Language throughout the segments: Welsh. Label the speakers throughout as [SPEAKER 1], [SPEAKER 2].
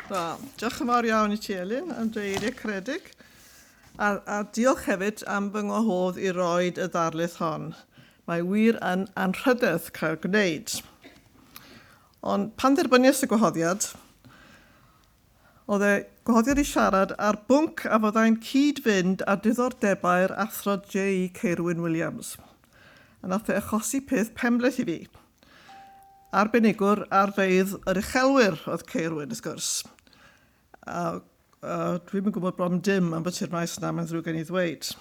[SPEAKER 1] Wel, diolch yn fawr iawn i ti, Elin, am dy eiriau caredig. A, a diolch hefyd am fy ngwahodd i roi y ddarlith hon. Mae wir yn anrhydedd cael gwneud. Ond pan dderbyniais y gwahoddiad, Oedd e godion i siarad ar bwnc a fyddai'n cyd-fynd â diddordebau'r Athro Jay Ceirwyn Williams, a nath e achosi peth pembleth i fi. Arbenigwr ar feydd yr uchelwyr oedd Ceirwyn, wrth gwrs. A, a dwi'm yn gwybod bron dim am byty'r maes yna, mae'n ddrwg gen i ddweud.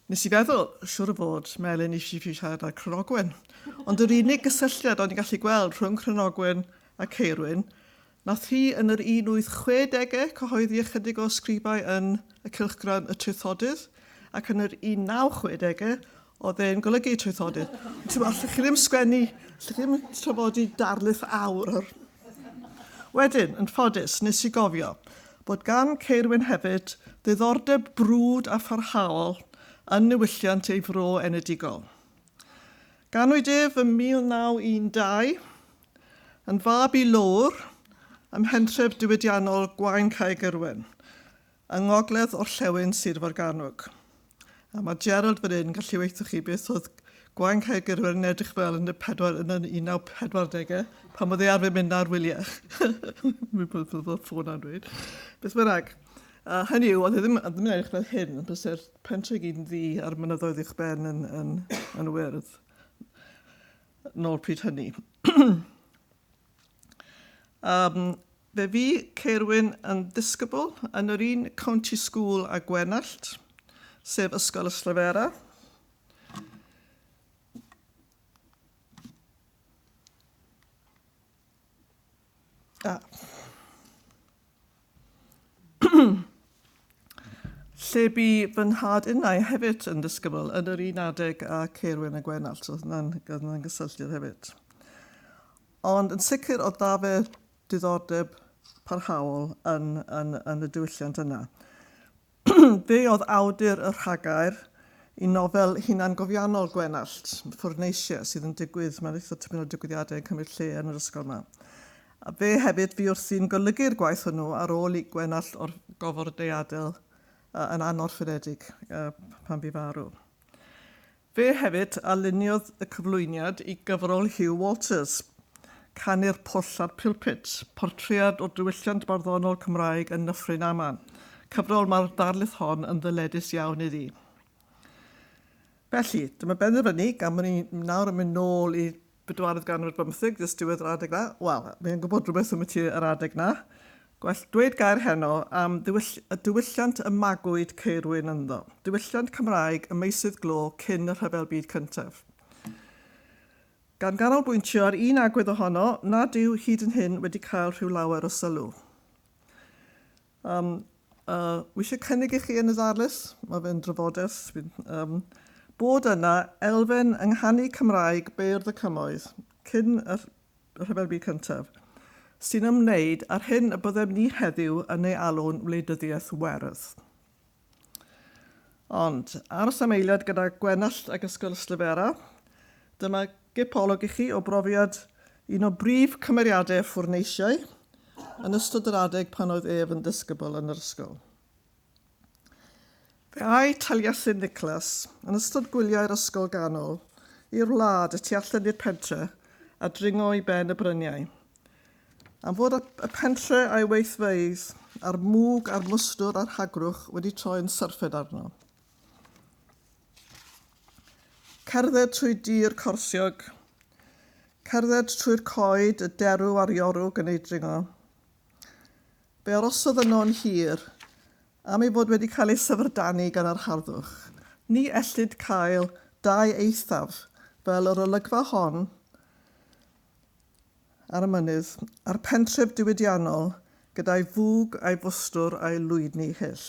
[SPEAKER 1] Nes i feddwl, siwr o fod, Melin eisiau fi siarad ar Cronogwen. Ond yr unig gysylltiad o'n i'n gallu gweld rhwng Cronogwen a Ceirwyn Nath hi yn yr 1860 cyhoeddi ychydig o ysgrifau yn y cylchgrawn Y Traethodydd, ac yn yr 1960 oedd e'n golygu Y Traethodydd. Ond ti'n allwch chi ddim sgwennu, allwch chi ddim trafodi darlith awr o'r... Wedyn, yn ffodus, nes i gofio bod gan Ceirwyn hefyd ddiddordeb brwd a pharhaol yn niwylliant ei fro enedigol. Ganwyd ef ym 1912, yn fab i Lowr ym mhentref diwydiannol Gwaun Cae Gyrwen, yng ngogledd orllewin Sir Forgannwg. A mae Gerald fan hyn yn gallu weithio chi beth oedd Gwaun Cae Gyrwen yn edrych fel yn y pedwar yn y 1940au, pan oedd ei arfer mynd na'r wyliau. Mae'n bod fel ffôn a'n dweud. Beth bynnag. A hynny yw, oedd e ddim, ddim yn edrych fel hyn, bys e'r pentre gyd yn ddi a'r mynyddoedd uwch ben yn, yn, yn wyrdd. nôl pryd hynny. um, fe fi Ceirwyn yn ddisgybl yn yr un County School a Gwenallt, sef Ysgol y Slyfera. Da. lle bu fy nhad innau hefyd yn ddisgybl yn yr un adeg a Ceirwyn a Gwenallt, so hwnna'n hwnna gysylltiad hefyd. Ond yn sicr o da fe diddordeb parhaol yn, yn, yn y diwylliant yna. Fe oedd awdur y rhagair i nofel hunangofiannol Gwenallt, Ffwrneisia, sydd yn digwydd, mae'n eitha tipyn o digwyddiadau yn cymryd lle yn yr ysgol yma. A fe hefyd fu wrthi'n golygu'r gwaith hwnnw ar ôl i Gwenallt o'r gofod deiadel yn anorffededig pan fu farw. Fe hefyd a luniodd y cyflwyniad i gyfrol Hugh Walters, Canu'r Pwll a'r Pulpit, portread o diwylliant barddonol Cymraeg yn Nyffryn Aman, cyfrol mae'r ddarlith hon yn ddyledus iawn iddi. Felly, dyma benderfynu, gan bod ni nawr yn mynd nôl i Bedwaredd ganrif bymtheg, dys diwedd yr adeg 'na. Wel, mae e'n gwybod rhywbeth ambyti yr adeg 'na. Gwell dweud gair heno am ddiwyll- y diwylliant y magwyd Ceirwyn ynddo. Diwylliant Cymraeg y meysydd glo cyn y Rhyfel Byd Cyntaf. Gan ganolbwyntio ar un agwedd ohono nad yw hyd yn hyn wedi cael rhyw lawer o sylw. Yym, a wi eisiau cynnig i chi yn y ddarlith, mae fe'n drafodaeth, fi'n, yym, bod yna elfen yng nghanu Cymraeg beirdd y cymoedd, cyn y Rhyfel Byd Cyntaf, sy'n ymwneud â'r hyn y byddem ni heddiw yn ei alw'n wleidyddiaeth werdd. Ond, aros am eiliad gyda Gwenallt ac Ysgol Yslifera. Dyma gip olwg i chi o brofiad un o brif cymeriadau y ffwrneisiau yn ystod yr adeg pan oedd ef yn ddisgybl yn yr ysgol. Fe ai Taliesin Nicholas, yn ystod gwyliau'r ysgol ganol, i'r wlad y tu allan i'r pentre a dringo i ben y bryniau. Am fod y pentre a'i weithfeydd a'r mwg a'r mwstwr a'r hagrwch wedi troi'n syrffed arno. Cerdded trwy dir corsiog, cerdded trwy'r coed, y derw a'r iorwg yn ei dringo. Fe arosodd yno yn hir, am ei fod wedi cael ei syfrdanu gan yr harddwch. Ni ellid cael dau eithaf fel yr olygfa hon ar y mynydd, a'r pentref diwydiannol gyda'i fwg a'i fwstwr a'i lwydni hyll.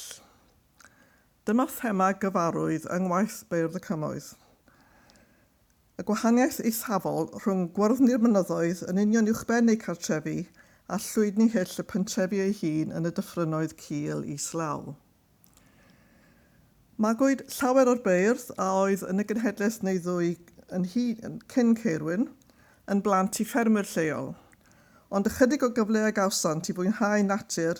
[SPEAKER 1] Dyma thema gyfarwydd yng ngwaith Beirdd y Cymoedd. Y gwahaniaeth eithafol rhwng gwyrddni'r mynyddoedd yn union uwchben eu cartrefi a llwydni hyll y pentrefi ei hun yn y dyffrynnoedd cul islaw. Magwyd llawer o'r beirdd a oedd yn y genhedlaeth neu ddwy yn hŷn cyn Ceirwyn yn blant i ffermwyr lleol, ond ychydig o gyfle a gawsant i fwynhau natur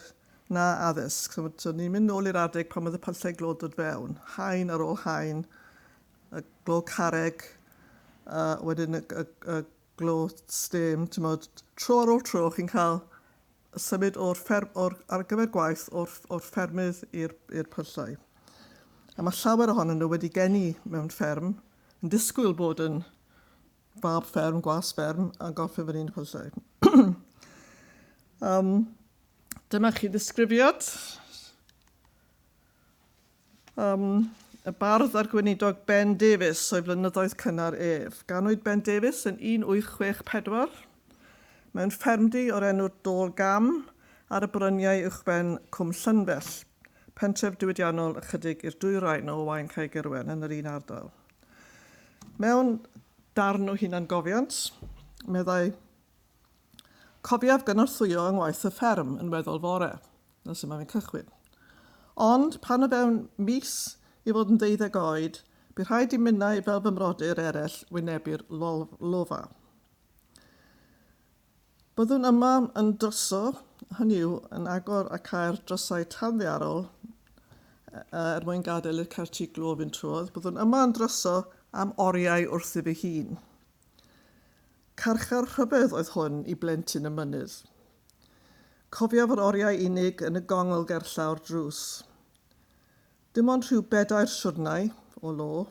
[SPEAKER 1] na addysg. So, so ni'n mynd nôl i'r adeg pan oedd y pyllau glo'n dod fewn, haen ar ôl haen, y glo carreg, a wedyn y, y, y Gloch stem, timod, tro ar ôl tro chi'n cael symud o'r fferm, o'r, ar gyfer gwaith o'r, o'r ffermydd i'r, i'r pyllau. A mae llawer ohonyn nhw wedi geni mewn fferm, yn disgwyl bod yn fab fferm, gwas fferm, a gorffen fan hyn y pyllau. um, dyma chi ddisgrifiad. Am y bardd a'r gweinidog Ben Davies o'i flynyddoedd cynnar ef. Ganwyd Ben Davies yn 1864 mewn ffermdy o'r enw'r Dôl Gam ar y bryniau uwchben Cwm Llynfell, pentref diwydiannol ychydig i'r dwyrain o Owain Caegirwen yn yr un ardal. Mewn darn o hunangofiant, meddai, Cofiaf gynorthwyo yng ngwaith y fferm yn weddol fore. Dyna sut mae fe'n cychwyn. Ond pan o fewn mis i fod yn deuddeg oed, bu rhaid i minnau fel fy mrodyr eraill wynebu'r lofa. Byddwn yma yn dryso, hynny yw, yn agor a cau'r drysau tanddiarol er mwyn gadael i'r certi glo fynd trwodd, byddwn yma yn dryso am oriau wrth i fy hun. Carchar rhyfedd oedd hwn i blentyn y mynydd. Cofia fod oriau unig yn y gongl gerllaw'r drws. Dim ond rhyw bedair siwrnai, o lo,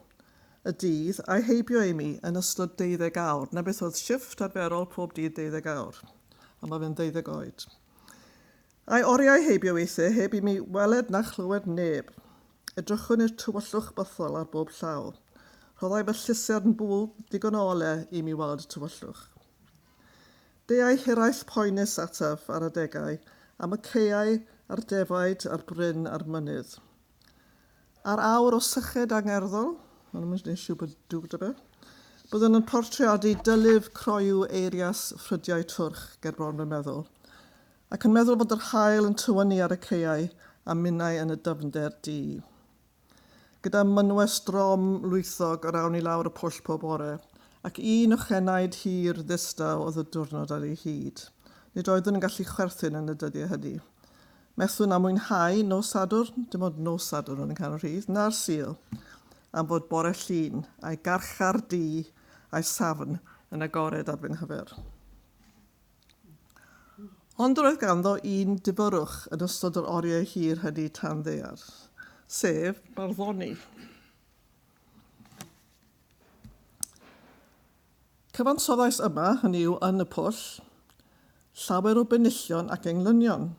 [SPEAKER 1] y dydd, a'i heibio i mi, yn ystod deuddeg awr. 'Na beth oedd shifft arferol pob dydd deuddeg awr. Ond mae fe'n ddeuddeg oed. A'i oriau heibio weithiau heb i mi weled na chlywed neb. Edrychwn i'r tywyllwch bythol ar bob llaw. Rhoddai fy llusern bwl digon o ole i mi weld y tywyllwch. Deuai hiraeth poenus ataf ar adegau am y caeau a'r defaid a'r bryn a'r mynydd. A'r awr o syched angerddol, byddwn yn portreadu dylyf croyw eirias ffrydiau twrch ger bron fy meddwl, ac yn meddwl bod yr haul yn tywynnu ar y caeau a minnau yn y dyfnder du. Gyda mynwes drom lwythog yr awn i lawr y pwll pob bore, ac un ochenaid hir ddistaw oedd y diwrnod ar ei hyd. Nid oeddwn yn gallu chwerthin yn y dyddiau hynny. Methwn â mwynhau nos Sadwrn, dim ond nos Sadwrn oedd yn canol rhydd, na'r Sul, am fod bore Llun, a'i garchar du, a'i safn yn agored ar fy nghyfer. Ond roedd ganddo un dibyrwch yn ystod yr oriau hir hynny tan ddaear, sef barddoni. Cyfansoddais yma, hynny yw yn y pwll, llawer o benillion ac englynion.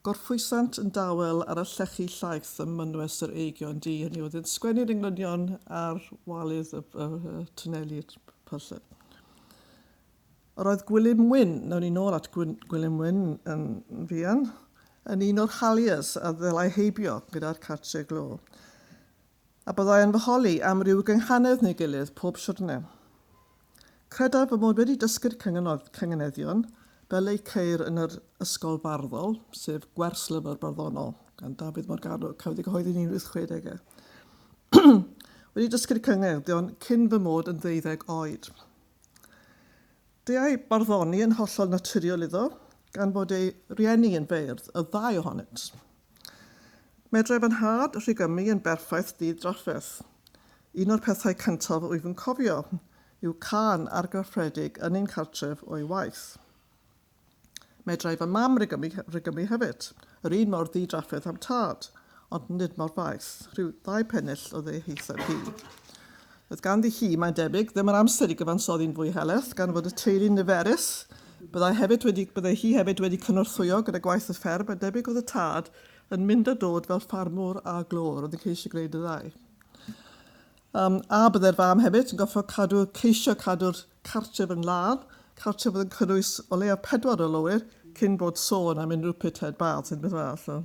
[SPEAKER 1] Gorffwysant yn dawel ar y llechi llaeth ym mynwes yr eigion du, hynny yw, oedd yn sgwennu'r englynion ar walydd y, y, y twneli'r pyllau. Roedd Gwilym Wyn, nawn ni nôl at Gwilym Wyn yn fuan, yn un o'r Halliers a ddelai heibio gyda'r cartre glo. A byddai yn fy holi am ryw gynghanedd neu gilydd pob siwrne. Credaf fy mod wedi dysgu'r cynganeddion, fel eu ceir yn yr Ysgol Farddol, sef Gwerslyfr Barddonol, gan Dafydd Morgannwg, cafodd ei gyhoeddi yn 1860. wedi dysgu'r cynganeddion cyn fy mod yn ddeuddeg oed. Deuai barddoni yn hollol naturiol iddo, gan fod ei rieni yn feirdd, y ddau ohonynt. Medrai fy nhad Rhigymu yn berffaith ddydd drafferth. Un o'r pethau cyntaf wyf yn cofio yw cân argrafferedig yn ein cartref o'i waith. Medrai fy mam rygymni, rygymni hefyd, yr un mor ddi-drafferth â'm tad, ond nid mor faith, rhyw ddau pennill oedd ei haetheb hi. Oedd ganddi hi, mae'n debyg, ddim yr amser i gyfansoddi'n fwy heleth, gan fod y teulu'n niferus, byddai hefyd wedi, byddai hi hefyd wedi cynorthwyo gyda gwaith y fferm, a debyg oedd y tad yn mynd a dod fel ffarmwr a glor, oedd yn ceisio gwneud y ddau. Um, a byddai'r fam hefyd yn gofio cadw, ceisio cadw'r cartref yn lân, cartref oedd yn cynnwys o leiaf pedwar o lowyr, cyn bod sôn am unrhyw pithead baths neu beth arall.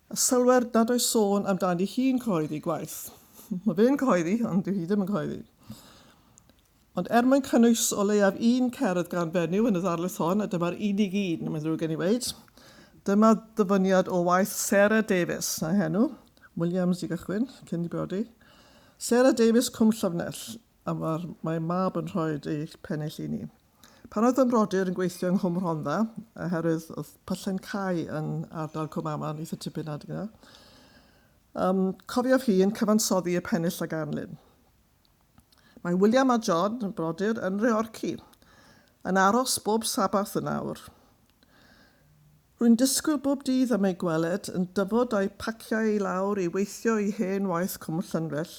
[SPEAKER 1] A sylwer nad oes sôn amdani hi'n cyhoeddi gwaith. Mae fe'n cyhoeddi, ond dyw hi ddim yn cyhoeddi. Ond er mwyn cynnwys o leiaf un cerdd gan fenyw yn y ddarlith hon, a dyma'r unig un, mae'n ddrwg gen i weud, dyma ddyfyniad o waith Sarah Davies, na henw, Williams i gychwyn, cyn i brodi. Sarah Davies, Cwm Llyfnell, a mae'r mae mab yn rhoi eich pennill i ni. Pan oedd yn rodyr yn gweithio yng Nghwm Rhondda, oherwydd oedd pyllen cau yn ardal Cwm Aman eitha tipyn adeg yna, um, cofiof hi yn cyfansoddi y pennill a ganlyn. Mae William a John, yn brodyr, yn Reorci, yn aros bob sabath yn awr. Rwy'n disgwyl bob dydd am ei gweled yn dyfod â'i phaciau i lawr i weithio i hen waith Cwm Llynfell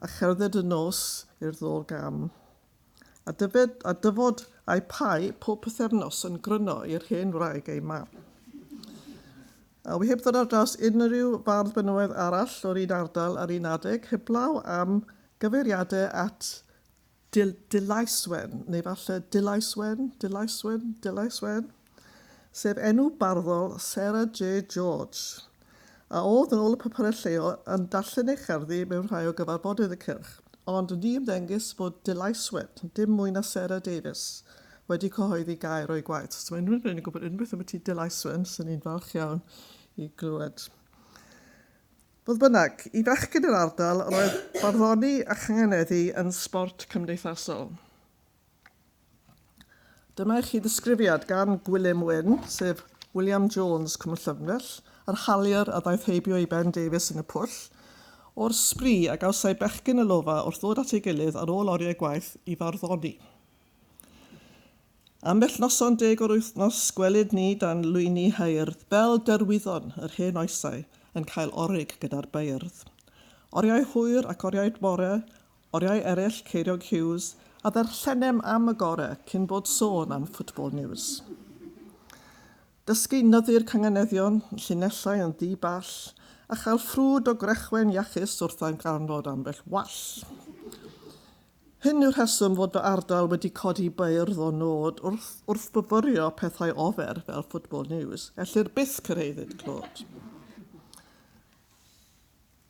[SPEAKER 1] a cherdded y nos i'r ddôl gam. A dyfed, a dyfod â'i pau pob pythefnos yn gryno i'r hen wraig ei mam. A wi heb ddod ar draws unrhyw fardd benywaidd arall o'r un ardal ar un adeg heblaw am gyfeiriadau at Dil, Dilaeswen, neu falle Dylaeswen, Dylaeswen, Dylaeswen, sef enw barddol Sarah J. George, a oedd, yn ôl y papurau lleol, yn darllen ei cherddi mewn rhai o gyfarfodydd y cylch. Ond ni ymddengys fod Dylaeswen, dim mwy na Sarah Davies, wedi cyhoeddi gair o'i gwaith. Os mae unrhyw un yn gwybod unrhyw beth ambyti Dylaeswen, 'swn i'n falch iawn i glywed. Fodd bynnag, i fechgyn yr ardal roedd barddoni a changeneddu yn sbort cymdeithasol. Dyma i chi ddisgrifiad gan Gwilym Wyn, sef William Jones, Cwm Llyfnell, yr haliwr a ddaeth heibio i Ben Davies yn y pwll, o'r sbri a gawsai bechgyn y Lofa wrth ddod at ei gilydd ar ôl oriau gwaith i farddoni. Ambell noson deg o'r wythnos gwelid ni dan lwyni haeardd bel derwyddon yr hen oesau yn cael orig gyda'r beirdd. Oriau hwyr ac oriau bore, oriau eraill Ceiriog Hughes a ddarllenem am y gore cyn bod sôn am Football News. Dysgu nyddu'r canganeddion, llinellau yn ddi ball, a chael ffrwd o grechwe'n iachus wrth ddarganfod ambell wall. Hyn yw'r rheswm fod fy ardal wedi codi beirdd o nod wrth wrthfyfyrio pethau ofer fel Football News. Ellir byth cyrhaeddid clod.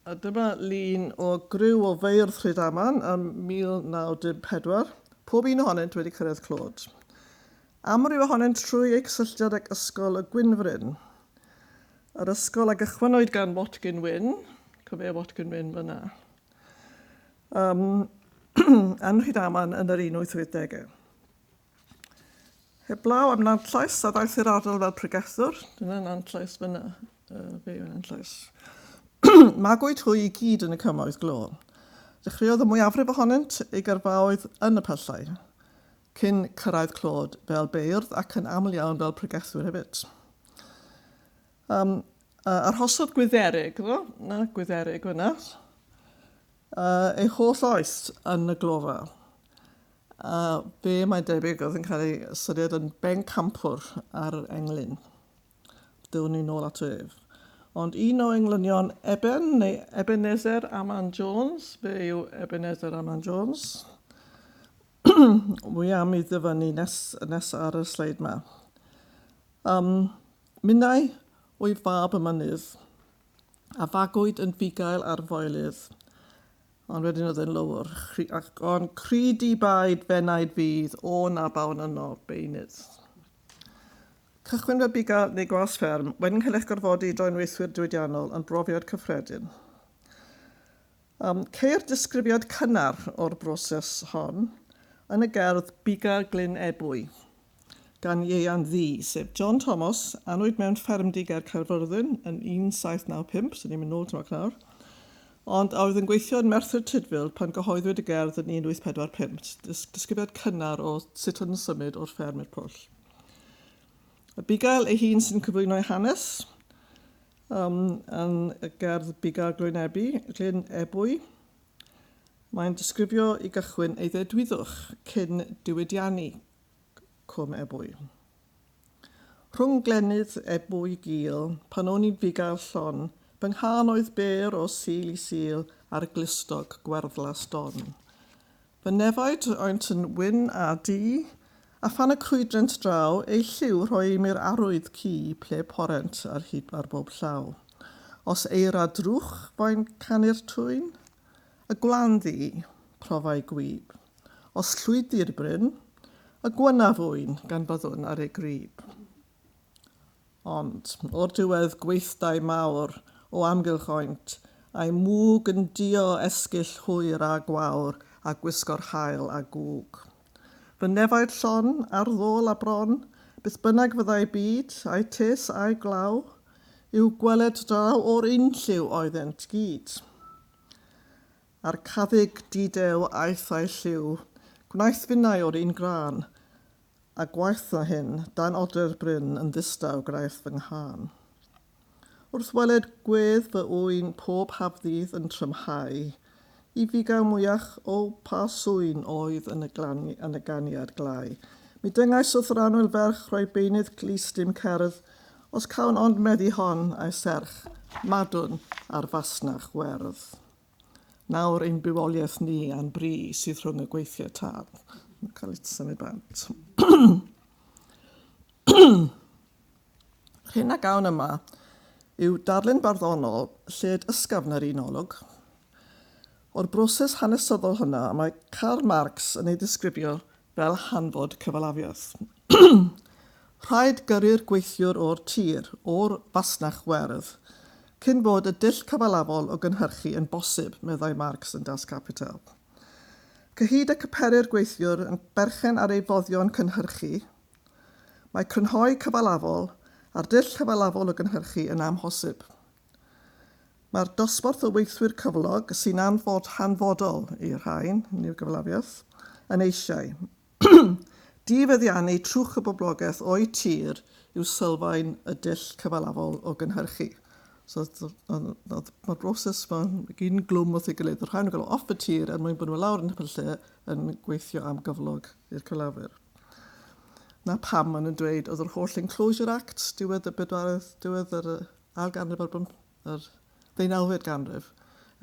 [SPEAKER 1] A dyma lun o griw o feirdd Rhydaman ym 1914, pob un ohonynt wedi cyrraedd clod. Amryw ohonynt trwy eu cysylltiad ag Ysgol y Gwynfryn. Yr ysgol a gychwynwyd gan Watkin Wyn, cofia Watkin Wyn fyna. Ym yn Rhydaman yn yr un wyth wyth degau. Heblaw am Nantllais, a ddaeth i'r ardal fel pregethwr. Dyna Nantllais fyna, uh, fe yw Nantllais. Magwyd hwy i gyd yn y cymoedd glo. Dechreuodd y mwyafrif ohonynt ei gyrfaoedd yn y pyllau, cyn cyrraedd Clod fel beirdd ac yn aml iawn fel pregethwyr hefyd. Yym, a arhosodd Gwydderic, do? 'na Gwydderic fan'na, yy, ei holl oes yn y glofa. A fe, mae'n debyg, oedd yn cael ei ystyried yn bencampwr ar englyn. Dylwn ni nôl ato ef. Ond un o englynion Eben, neu Ebenezer Aman Jones, fe yw Ebenezer Aman Jones, wy am i ddyfynnu nes, nes ar y sleid yma. Um, Minnau oedd fab y mynydd, a fagwyd yn fugail ar foelydd, ond wedyn oedd e'n lowr, chri, ac o'n cri di baid fennaid fydd, o na bawn yno, beunydd. Cychwyn fel biga neu gwas fferm, wedyn cael eich gorfodi i droi'n weithwyr diwydiannol yn brofiad cyffredin. Ceir disgrifiad cynnar o'r broses hon yn y gerdd Buga Glyn Ebwy gan Ieuan Ddu, sef John Thomas, anwyd mewn ffermdy ger Caerfyrddin yn 1795, so ni'n mynd nôl tymor cnawr, ond a oedd yn gweithio yn Merthyr Tudful pan gyhoeddwyd y gerdd yn 1845, disgrifiad cynnar o sut oedd yn symud o'r fferm i'r pwll. Abigail ei hun sy'n cyflwyno'i hanes, Ym yn y gerdd Buga'r Gloenebu, Glyn Ebwy, mae'n disgrifio i gychwyn eiddedwydwch cyn diwydiannu Cwm Ebwy. Rhwng glennydd Ebwy gul, pan o'n i'n fugail llon, fy nghân oedd bêr o Sul i Sul ar glustog gwerddlas don. Fy nefaid oent yn wyn a du, A phan y crwydrent draw, eu lliw Rhoi im i'r arwydd cu, Ple porent ar hyd ar bob llaw. Os eira drwch fo'n canu'r twyn, Y gwlan ddu, profai gwyb, Os llwydi'r bryn, y gwynaf ŵyn, Gan byddwn ar ei grib. Ond, o'r diwedd, gweithdai mawr o amgylch oent, a'i mwg yn duo esgyll hwyr a gwawr a gwisgo'r haul a gwg. Fy nefaid llon, ar ddôl a bron, beth bynnag fyddai byd, ai tes ai glaw, i'w gweled draw o'r unlliw oeddent gyd. A'r caddyg di-dew aeth a'i lliw, gwnaeth finnau o'r un grân, A gwaetha hyn, dan odreu'r bryn yn ddistaw graith fy nghân. Wrth weled gwedd fy ŵyn pob hafddydd yn trymhau, i fugaw mwyach o pa sŵyn oedd yn y glani- yn y ganiad glai, mi dyngais wrth yr annwyl ferch roi beunydd clust i'm cerdd, os cawn ond meddu hon a'i serch, madwn ar fasnach werdd. Nawr ein bywoliaeth ni a'n bri sydd rhwng y gweithiau tân. Mae'n cael ei tynu bant. Yr hyn a gawn yma yw darlun barddonol lled ysgafn yr un olwg. O'r broses hanesyddol hwnna, mae Karl Marx yn ei ddisgrifio fel hanfod cyfalafiaeth. Rhaid gyrru'r gweithiwr o'r tir, o'r fasnach werdd, cyn bod y dull cyfalafol o gynhyrchu yn bosib, meddai Marx yn Das Kapital. Cyhyd ac y pery'r gweithiwr yn berchen ar ei foddion cynhyrchu, mae crynhoi cyfalafol a'r dull cyfalafol o gynhyrchu yn amhosib. Mae'r dosbarth o weithwyr cyflog sy'n anfod hanfodol i'r rhain, hynny yw gyfalafiaeth, yn eisiau. Difeddiannu trwch y boblogaeth o'u tir yw sylfaen y dull cyfalafol o gynhyrchu. So, mae'r broses mae'n gyn glwm wrth ei gilydd. Yr rhain yn cael off y tir er mwyn bod nhw lawr yn y lle yn gweithio am gyflog i'r cyflafwyr. Na pam maen nhw'n dweud oedd yr holl Enclosure Act, diwedd y bedwaredd, diwedd yr ail ganrif ar bymth- yr ddeunawfed ganrif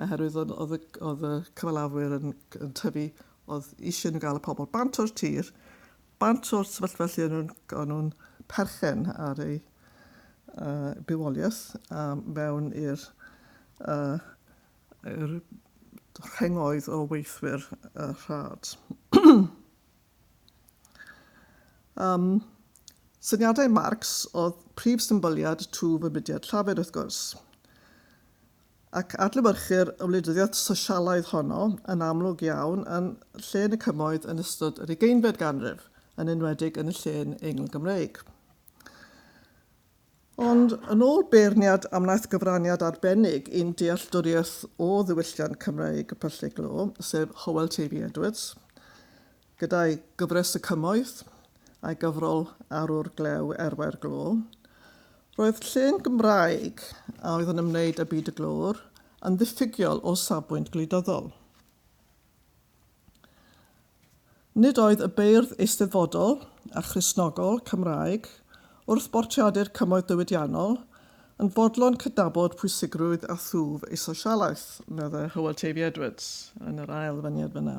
[SPEAKER 1] oherwydd oedd oedd y oedd y cyfalafwyr yn yn tyfu oedd eisiau nhw gael y pobl bant o'r tir bant o'r sefyllfa lle o'n nhw'n o'n nhw'n perchen ar eu uh, bywoliaeth a mewn i'r uh, i'r rhengoedd o weithwyr uh, rhad. Um, syniadau Marx oedd prif symbyliad twf y mudiad llafur, wrth gwrs. Ac adlewyrchu'r wleidyddiaeth sosialaidd honno yn amlwg iawn yn lle yn y cymoedd yn ystod yr ugeinfed ganrif, yn enwedig yn y llên Eingl-Gymreig. Ond, yn ôl beirniad a wnaeth gyfraniad arbennig i'n dealltwriaeth o ddiwylliant Cymreig y Pyllau Glo, sef Hywel Teifi Edwards, gyda'i gyfres Y Cymoedd a'i gyfrol Arwr Glew Erwau'r Glo, roedd llên Gymraeg a oedd yn ymwneud â byd y glöwr yn ddiffygiol o safbwynt gwleidyddol. Nid oedd y beirdd eisteddfodol a Christnogol Cymraeg, wrth bortreadu'r cymoedd diwydiannol, yn fodlon cydnabod pwysigrwydd a thwf ei sosialaeth, meddai Hywel Teifi Edwards, yn yr ail ddyfyniad fan'na.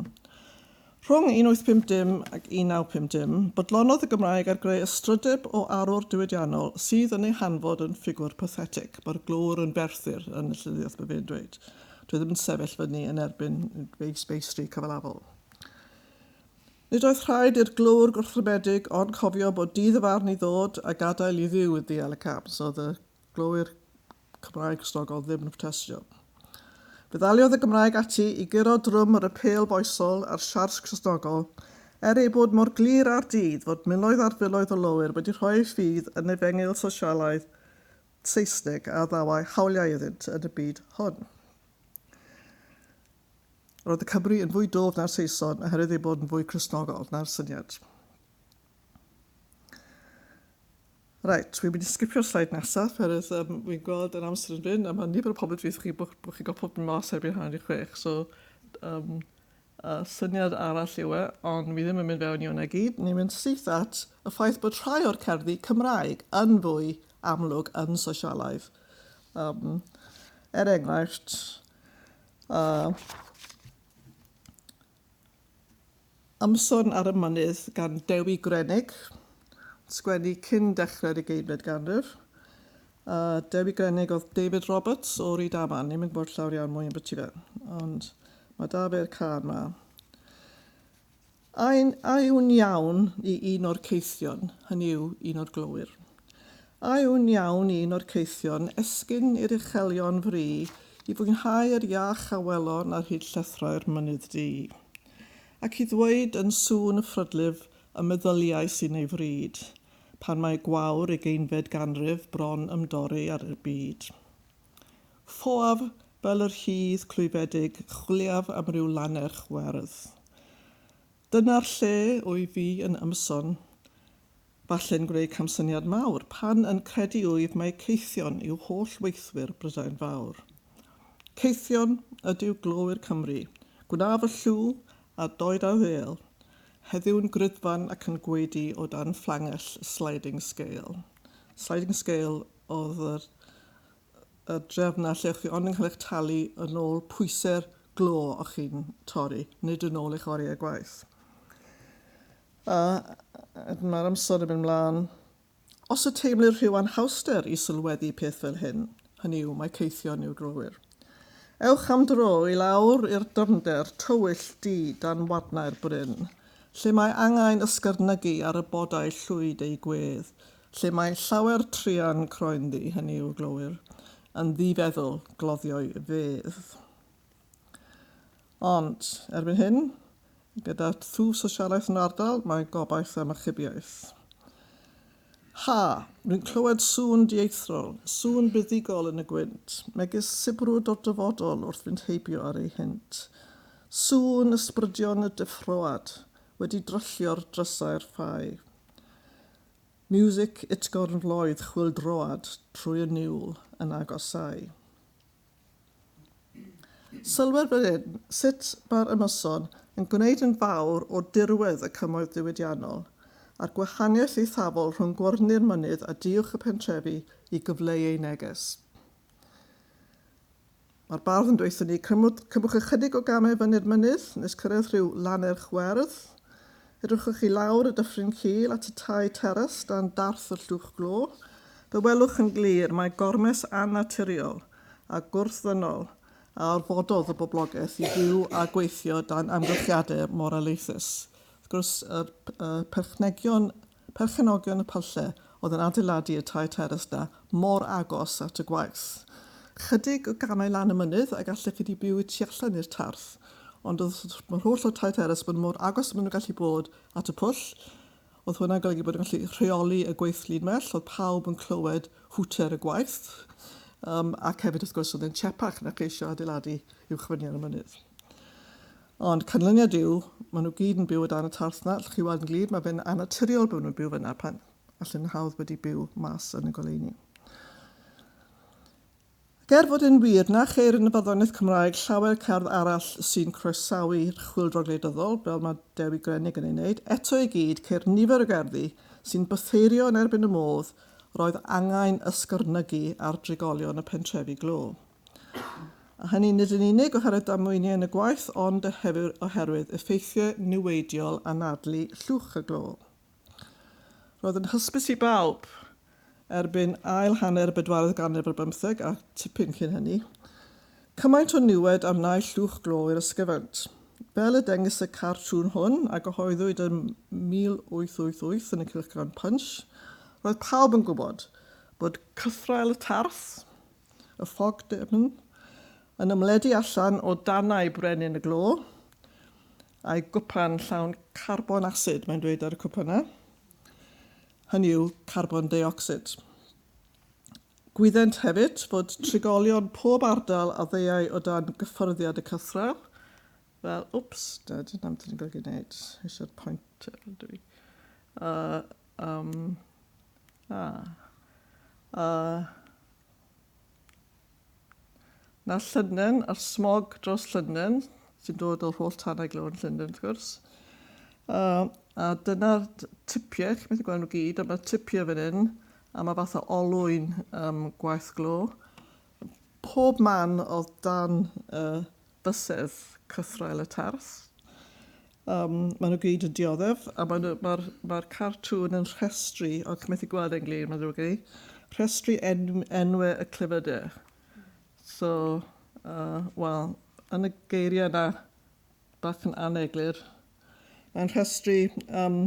[SPEAKER 1] Rhwng 1850 ac 1950, bodlonodd y Gymraeg ar greu ystrydeb o arwr diwydiannol sydd yn ei hanfod yn ffigwr pathetig, mae'r glöwr yn Ferthyr yn y llenyddiaeth, mae fe'n dweud. Dwi ddim yn sefyll fyny yn erbyn ei feistri cyfalafol. Nid oedd rhaid i'r glwr gwrthryfedig ond cofio bod dydd y farn i ddod a gadael i ddiw i ddeall y cam, so oedd y glowyr Cymraeg Cristnogol ddim yn protestio. Fe ddaliodd y Gymraeg ati i guro drwm yr apêl foesol a'r siarts Cristnogol, er ei bod mor glir ar dydd fod miloedd ar filoedd o lowyr wedi rhoi eu ffydd yn efengyl sosialaidd Saesneg a ddawai hawliau iddynt yn y byd hwn. Roedd y Cymry yn fwy dwf na'r Saeson oherwydd eu bod yn fwy Cristnogol na'r syniad. Right, wi'n mynd i sgipio'r slide nesaf, oherwydd um, wi'n gweld yr amser yn fynd, a mae nifer o pobl yn dweud chi bod, bod chi'n gweld pobl mas erbyn hanner i chwech, so um, Syniad arall yw e, ond fi ddim yn mynd fewn i hwnna i gyd. Ni'n mynd syth at y ffaith bod rhai o'r cerddi Cymraeg yn fwy amlwg yn sosialaidd. Um, er enghraifft, uh, Ymson ar y Mynydd gan Dewi Grennig, sgwennu cyn dechrau'r ugeinfed ganrif, A Dewi Grennig oedd David Roberts o Ryd Aman. Ni'n mynd gwybod llawr iawn mwy yn byty fe. Ond mae da fe'r car ma. A'n awn iawn i un o'r ceithion, hynny yw un o'r glowyr. Awn iawn i un o'r ceithion, esgyn i'r uchelion fri, i fwynhau yr iach a welon ar hyd llethrau'r mynydd du. Ac i ddweud yn sŵn y ffrydlif y meddyliais yn ei fryd, pan mae gwawr ugeinfed ganrif bron ymdorri ar y byd. Ffoaf fel yr hudd clwyfedig chwiliaf am ryw lannerch werdd. Dyna'r lle wyf fi yn ymson, falle'n gwneud camsyniad mawr, pan yn credu wyf mai caethion yw holl weithwyr Brydain Fawr. Caethion ydyw glowyr Cymru, gwna fy llw a doed a ddêl, Heddiw yn grudfan ac yn gwaedu o dan fflangell y sliding scale. Sliding scale oedd yr, y drefn na lle chi ond yn cael eich talu yn ôl pwysau'r glo o chi'n torri, nid yn ôl eich oriau gwaith. A mae'r amser yn mynd mlaen. Os y teimlir rhyw anhawster i sylweddi peth fel hyn, hynny yw, mae Caethion i'w drowyr. Ewch am dro i lawr i'r dyfnder tywyll du dan wadnau'r bryn, lle mae angau'n ysgyrnygu ar y bodau llwyd eu gwedd, lle mae llawer truan croenddu, hynny yw, glowyr, yn ddifeddwl, gloddio'i fedd. Ond, erbyn hyn, gyda thwf sosialaeth yn yr ardal, mae gobaith am achubiaeth. Ha! Rwy'n clywed sŵn dieithrol, sŵn buddugol yn y gwynt, megis sibrwd o'r dyfodol wrth fynd heibio ar eu hynt. Sŵn ysbrydion y deffroad wedi dryllio'r drysau'r ffau. Miwsig utgorn floedd chwyldroad trwy y niwl yn agosau. Sylwer fan hyn sut mae'r ymyson yn gwneud yn fawr o dirwedd y cymoedd diwydiannol, a'r gwahaniaeth eithafol rhwng gwarni'r mynydd a duwch y pentrefi i gyfleu eu neges. Mae'r bardd yn dweud wrthyn ni, cymwch ychydig o gamau fyny'r mynydd nes cyrraedd rhyw lannerch werdd, Edrychwch i lawr y dyffryn cul at y tai teras dan darth y llwch glo. Fe welwch yn glir mai gormes annaturiol a gwrthddynol a orfododd y boblogaeth i fyw a gweithio dan amgylchiadau mor alaethus. Wrth gwrs, y perchenogion y Pyllau Oedd yn adeiladu y tair terrace 'na mor agos at y gwaith. Chydig o gamau lan y mynydd a gallech chi di byw y tu allan i'r tarth. Ond oedd yr holl o'r tair terrace bod mor agos a ma' nhw'n gallu bod at y pwll. Oedd hwnna'n golygu bod yn gallu rheoli y gweithlu'n well. Oedd pawb yn clywed hwter y gwaith. Yym ac hefyd wrth gwrs oedd e'n siepach na cheisio adeiladu uwchfynion y mynydd. Ond canlyniad yw, maen nhw gyd yn byw o dan y tarth 'na, allwch chi weld yn glir, mae fe'n annaturiol bod nhw'n byw fyna pan allen nhw hawdd wedi byw mas yn y goleuni. Ac er fod yn wir, na cheir yn y barddoniaeth Cymraeg llawer cerdd arall sy'n croesawu'r chwyldro gwleidyddol, fel mae Dewi Grennig yn ei wneud, eto i gyd, ceir nifer o gerddi sy'n bytheirio yn erbyn y modd roedd angain ysgyrnygu ar drigolion y pentrefi glo. A hynny nid yn unig oherwydd damweiniau yn y gwaith ond hefyd oherwydd effeithiau niweidiol anadlu llwch y glo. Roedd yn hysbys i bawb, erbyn ail hanner y bedwaredd ganrif ar bymtheg a tipyn cyn hynny, cymaint o niwed a wnaeth llwch glo i'r ysgyfaint. Fel y dengys y cartŵn hwn, a gyhoeddwyd yn 1888 yn y cylchgrawn Punch, roedd pawb yn gwybod bod cythraul y tarth, y ffog dwfn, yn ymledu allan o danau brenin y glo, a'i gwpan llawn carbon asid, mae'n dweud ar y cwpan yna, hynny yw carbon deuocsid. Gwyddent hefyd fod trigolion pob ardal a ddeuai o dan gyffyrddiad y cythraw, fel, wps, na, dyna beth ni'n golygu wneud, eisiau'r pointer ydw i. Uh, um, ah, uh, Na Llynen a'r smog dros Llynen, sy'n dod o'r holl tanau glo yn Llynen wrth gwrs. A, a dyna'r tipiau, chi'n methu gweld nhw gyd, ond mae tipiau fan hyn, a mae fath o olwyn um, gwaith glo. Pob man oedd dan uh, bysedd cythraul y Tarth. Um, maen nhw gyd yn dioddef, a mae'r ma ma cartŵn yn rhestru, o, chi'n methu gweld e'n glir, mae'n ddrwg i, rhestru en enwau y clyfydau. So, uh, wel, yn y geiriau yna, bach yn aneglur, mae'n rhestru um,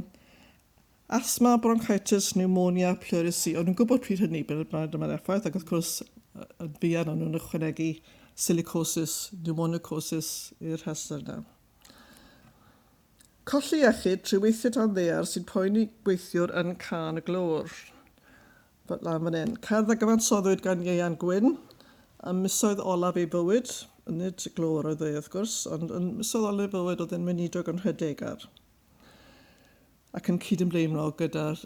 [SPEAKER 1] Asthma, bronchitis, pneumonia, pleurisy, o'n nhw'n gwybod pryd hynny bod yna'r effaith, ac wrth gwrs yn fuan o'n nhw'n ychwanegu silicosis, pneumonocosis i'r rhestr yna. Colli iechyd trwy weithio dan ddear sy'n poeni gweithiwr yn Can y Glôr. Fel lan fan hyn. Cerdd a gyfansoddwyd gan Ieuan Gwyn ym misoedd olaf ei fywyd, nid y glôr oedd e wrth gwrs, ond yn misoedd olaf ei fywyd oedd e'n weinidog yn Nhredegar. ac yn cydymdeimlo gyda'r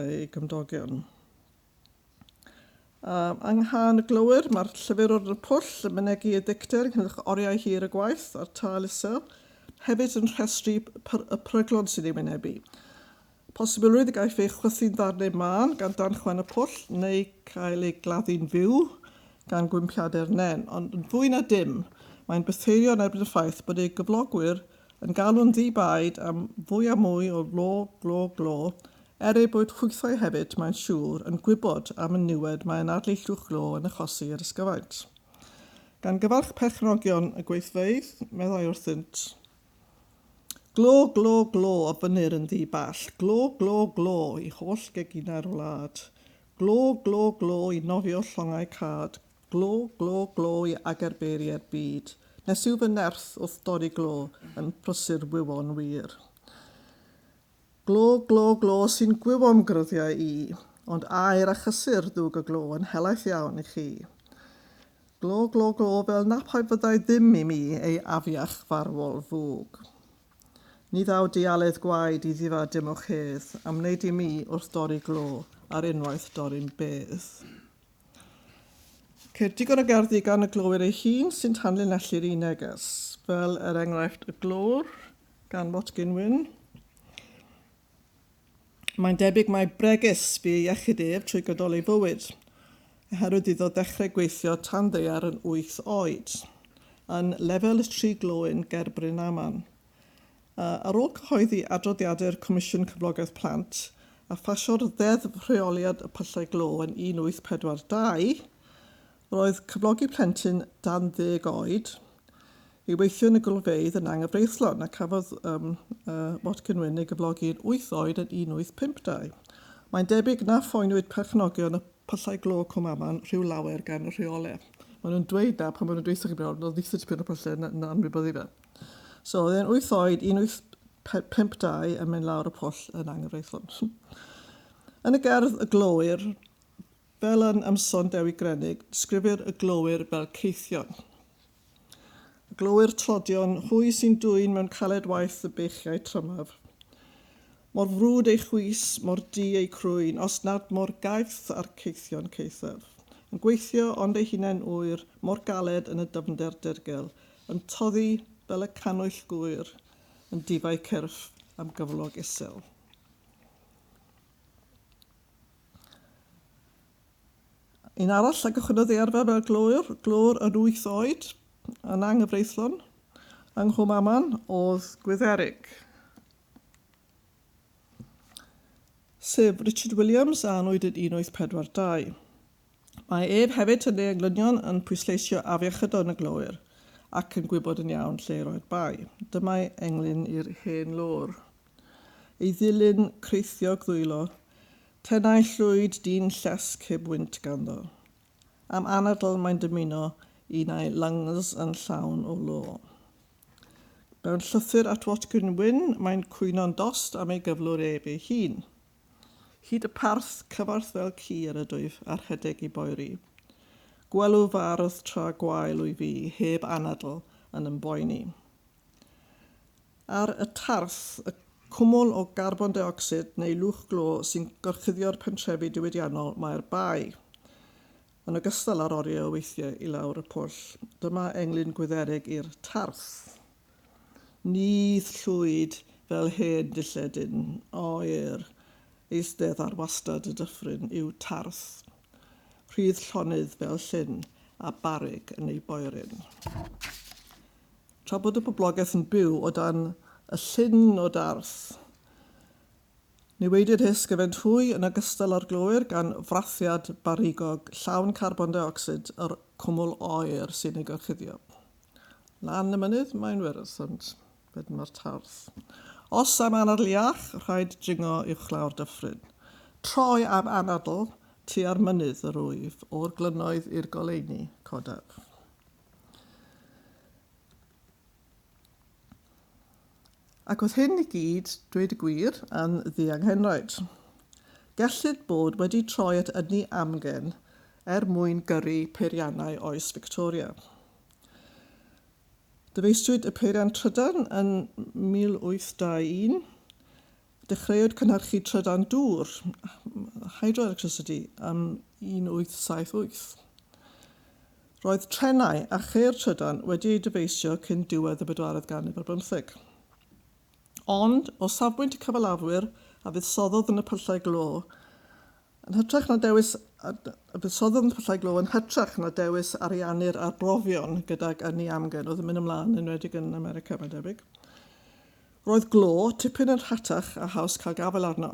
[SPEAKER 1] ei gymdogion. Um, yng nghan y glowyr, mae'r llyfr o'r pwll yn mynegi y dicter ynghylch oriau hir y gwaith a'r tal isel, hefyd yn rhestru y pryglon sy'n ei wynebu. Posibilrwydd y gaiff ei chwythu'n ddarnau mân gan dan chwen y pwll neu cael ei gladdu'n fyw gan gwympiadau'r nen, ond yn fwy na dim, mae'n bytheirio yn erbyn y ffaith bod ei gyflogwyr yn galw'n ddi-baid am fwy a mwy o lo, glo, glo, er eu bod hwythau hefyd, mae'n siŵr, yn gwybod am y niwed mae yn adlu llwch glo yn achosi i'r ysgyfaint. Gan gyfarch perchnogion y gweithfeydd, meddai wrthynt. Glo, glo, glo, a fynnir yn ddi-ball, glo, glo, glo, i holl geginau'r wlad. Glo, glo, glo, i nofio llongau cad, Glo, glo, glo i agerbeiriau'r byd, nes yw fy nerth wrth dorri glo yn prysur wyfon wir. Glo, glo, glo sy'n gwywom gryddiau i, ond aer a chysur ddwg y glo yn helaeth iawn i chi. Glo, glo, glo fel na phaid fyddai ddim i mi ei afiach farwol fwg. Ni ddaw dialedd gwaed i ddifa dim o'ch hedd am wneud i mi wrth dorri glo ar unwaith dorri'n bedd. Ceir digon o gerddi gan y glowyr ei hun sy'n tanlinellu'r un neges, fel er enghraifft Y Glöwr gan Watkin Wynne. Mae'n debyg mai bregus fu ei iechyd ef trwy gydol ei fywyd, oherwydd iddo ddechrau gweithio tan ddaear yn wyth oed, yn Lefel y Tri Glöwyn ger Brynaman. Ar ôl cyhoeddi adroddiadau'r Comisiwn Cyflogaeth Plant a phasio'r Ddeddf Rheoliad y Pyllau Glo yn 1842, roedd cyflogi plentyn dan ddeg oed i weithio yn y golfeydd yn anghyfreithlon a cafodd um, uh, Watkin Wyn ei gyflogi yn wyth oed yn 1852. Mae'n debyg na phoenwyd perchnogion y pyllau glo Cwmaman rhyw lawer gan y rheolau. Maen nhw'n dweud na pan maen nhw'n dweud sy'n gwybod, oedd ddi tipyn o pyllau yn anwybyddu fe. So oedd e'n 8 oed, 182 yn mynd lawr y pwll yn anghyfreithlon. yn y gerdd Y Glowyr, fel yn ymson Dewi Grenig, sgrifir y glowyr fel ceithion. Y glowyr trodion, hwy sy'n dwyn mewn caled waith y beichiau trymaf. Mor frwd ei chwys, mor di ei crwyn, os nad mor gaeth a'r ceithion caethaf. Yn gweithio ond ei hunain ŵyr, mor galed yn y dyfnder dirgel, Yn toddi fel y cannwyll gŵyr yn difau cyrff am gyflog isel. Un arall a gychwynnodd ei arfer fel glwr, glwr yn wyth oed, yn anghyfreithlon, yng Nghwm Aman oedd Gwytherig. Sef Richard Williams a anwyd yn 1842. Mae ef hefyd yn ei englynion yn pwysleisio afiechydon yn y glowyr ac yn gwybod yn iawn lle i roi'r bai. Dymai englyn i'r hen lôr. Ei ddilyn creithiog ddwylo, tenau llwyd dyn llesg heb wynt ganddo. Am anadl mae'n dymuno un ai lungs yn llawn o lo. Mewn llythyr at Watkin Wynne mae'n cwyno'n dost am ei gyflwr ef ei hun. Hyd y parth, cyfarth fel ci yn ydwyf, a rhedeg i boeri. Gwelw fy ardd tra gwael wy fi, heb anadl, yn ymboeni. Ar y tarth, y cwmwl o garbon deocsid neu lwch glo sy'n gorchuddio'r pentrefi diwydiannol mae'r bae, yn ogystal â'r oriau o weithiau i lawr y pwll. Dyma englyn gwydderig i'r tarth. Ni llwyd fel hen dilledyn oer eistedd ar wastad y dyffryn i'w tarth, rhydd llonydd fel llyn a barug yn ei boeryn. Tra bod y boblogaeth yn byw o dan y llyn o darth, newidir hysgyfent hwy yn ogystal â'r glowyr gan frathiad barigog llawn carbon deuocsid yr cwmwl oer sy'n ei gorchuddio. Lan y mynydd mae'n weresant, wedyn mae'r tarth. Os am anadl iach, rhaid dringo uwchlaw'r dyffryn. Troi am anadl tua'r mynydd yr wyf, o'r glynoedd i'r goleuni, codaf. Ac oedd hyn i gyd, dweud y gwir, yn ddianghenraid. Gellid bod wedi troi at ynni amgen er mwyn gyrru peiriannau oes Victoria. Dyfeisiwyd y peiriant trydan yn 1821, Dechreuwyd cynhyrchu trydan dŵr, hydroelectricity, ym 1878. Roedd trenau a cheir trydan wedi eu dyfeisio cyn diwedd y bedwaredd ganrif ar bymtheg. Ond, o safbwynt y cyfalafwyr a fuddsoddodd yn y pyllau glo, yn hytrach na dewis a fuddsoddodd yn y pyllau glo yn hytrach na dewis ariannu'r arbrofion gydag ynni amgen oedd yn mynd ymlaen, yn enwedig yn America, mae'n debyg. Roedd glo tipyn yn rhatach a haws cael gafael arno.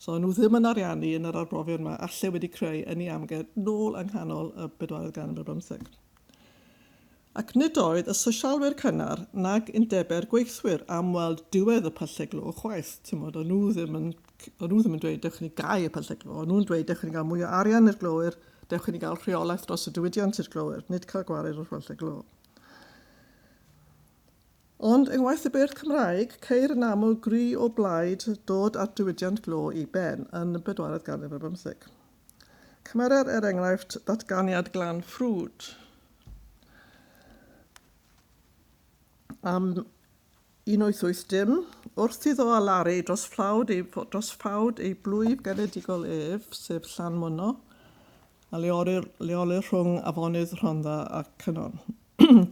[SPEAKER 1] So o'n nhw ddim yn ariannu yn yr arbrofion yma a lle wedi creu ynni amgen nôl yng nghanol y bedwaredd ganrif ar bymtheg. Ac nid oedd y sosialwyr cynnar nag undebe'r gweithwyr am weld diwedd y pyllau glo chwaith. Timod, o'n nhw ddim yn, o'n nhw ddim yn dweud dewch i ni gau y pyllau glo, o'n nhw'n dweud dewch i ni gael mwy o arian i'r glowyr, dewch i ni gael rheolaeth dros y diwydiant i'r glowyr, nid cael gwared o'r pyllau glo. Ond yng ngwaith y beirdd Cymraeg, ceir yn aml gri o blaid dod â'r diwydiant glo i ben yn y bedwaredd ganrif ar bymtheg. Cymerer er enghraifft ddatganiad Glan Ffrwd am 1880, wrth iddo alaru dros fflawd ei, dros ffawd ei blwyf genedigol ef, sef Llanmwno, a leolir, leolir rhwng afonydd Rhondda a Cynon.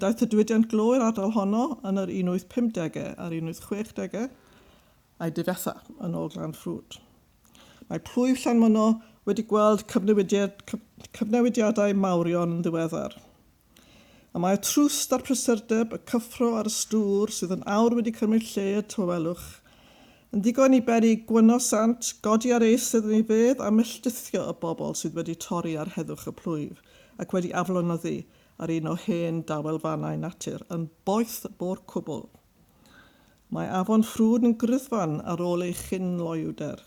[SPEAKER 1] Daeth y diwydiant glo i'r ardal honno yn yr 1850au a'r 1860au a'i difetha yn ôl Glan Ffrwd. Mae plwyf Llanmynno wedi gweld cyfnewidiadau mawrion yn ddiweddar. Y mae y trwst a'r prysurdeb, y cyffro a'r ystŵr sydd yn awr wedi cymryd lle y tawelwch, yn ddigon i beri gwyno sant, godi ar ei sydd yn ei fedd a melltithio y bobl sydd wedi torri ar heddwch y plwyf ac wedi aflonyddu ar un o hen dawelfannau natur yn boeth bo'r cwbl. Mae afon Ffrwd yn gryddfan ar ôl ei chyn-loewder,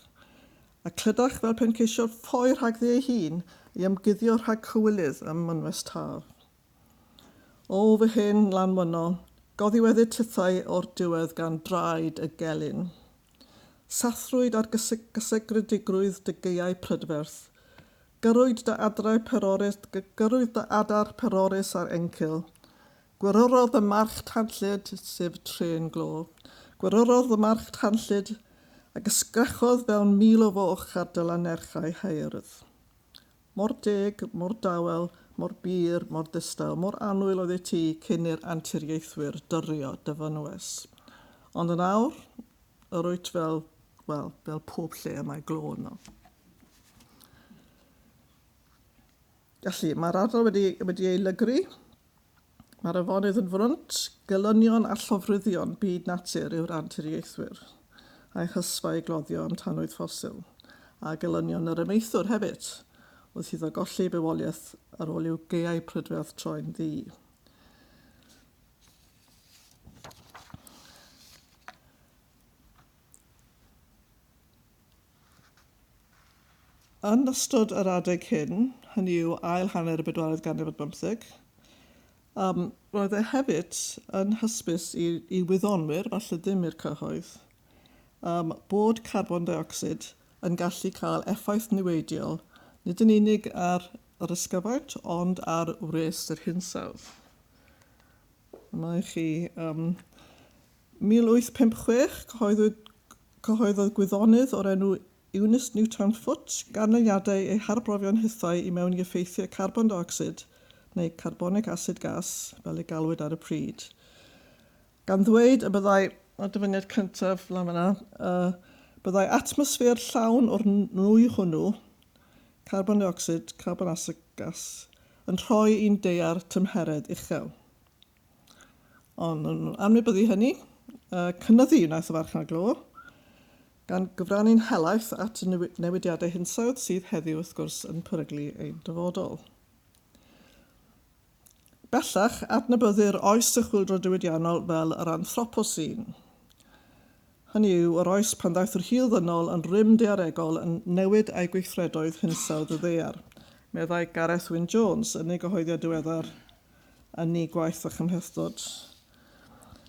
[SPEAKER 1] a clydach fel pe'n ceisio ffoi rhagddi ei hun i ymguddio rhag cywilydd ym mynwes Taf. O, fy hen lanwyno, goddiweddu tithau o'r diwedd gan draed y gelyn. Sathrwyd ar gysegredigrwydd dy gaeau prydferth, Gyrrwyd dy adrau perorus, gyrrwyd dy adar perorus ar encil. Gwyryrodd y march tanllyd, sef trên glo. Gwyryrodd y march tanllyd, ac ysgrechodd fewn mil o foch ar dy lannerchau haeardd. Mor deg, mor dawel, mor bur, mor ddistaw, mor annwyl oeddet ti cyn i'r anturiaethwyr dyrio dy fynwes. Ond yn awr, yr wyt fel, wel, fel pob lle y mae glo yno. Felly, mae'r ardal wedi, wedi ei lygru. Mae'r afonydd yn frwnt, gelynion a llofruddion byd natur yw'r anturiaethwyr, a'i hysfa ei gloddio am tanwydd ffosil, a gelynion yr amaethwr hefyd, wrth iddo golli ei bywoliaeth ar ôl i'w gaeau prydferth troi'n ddu. Yn ystod yr adeg hyn, hynny yw ail hanner y bedwaredd ganrif ar bymtheg, um, roedd e hefyd yn hysbys i, i wyddonwyr, falle ddim i'r cyhoedd, um, bod carbon deuocsid yn gallu cael effaith niweidiol nid yn unig ar yr ysgyfaint ond ar wres yr hinsawdd. Mae chi um, 1856, cyhoeddwyd cyhoeddodd gwyddonydd o'r enw Eunice Newtown Foote ganlyniadau ei harbrofion hithau i mewn i effeithiau carbon deuocsid, neu carbonic acid gas, fel ei galwyd ar y pryd, gan ddweud y byddai, y dyfyniad cyntaf lan fanna, y byddai atmosffer llawn o'r nwy hwnnw, carbon deuocsid, carbon acid gas, yn rhoi i'n daear tymheredd uchel. Ond yn anwybyddu hynny, cynyddu wnaeth y farchnad glo, gan gyfrannu'n helaeth at y newidiadau hinsawdd sydd heddiw, wrth gwrs, yn peryglu ein dyfodol. Bellach, adnabyddir oes y chwyldro diwydiannol fel yr anthroposin. Hynny yw, yr oes pan ddaeth yr hil ddynol yn rym daearegol yn newid a'i gweithredoedd hinsawdd y ddaear, meddai Gareth Wyn Jones yn ei gyhoeddiad diweddar yn eu gwaith a chymhlethdod.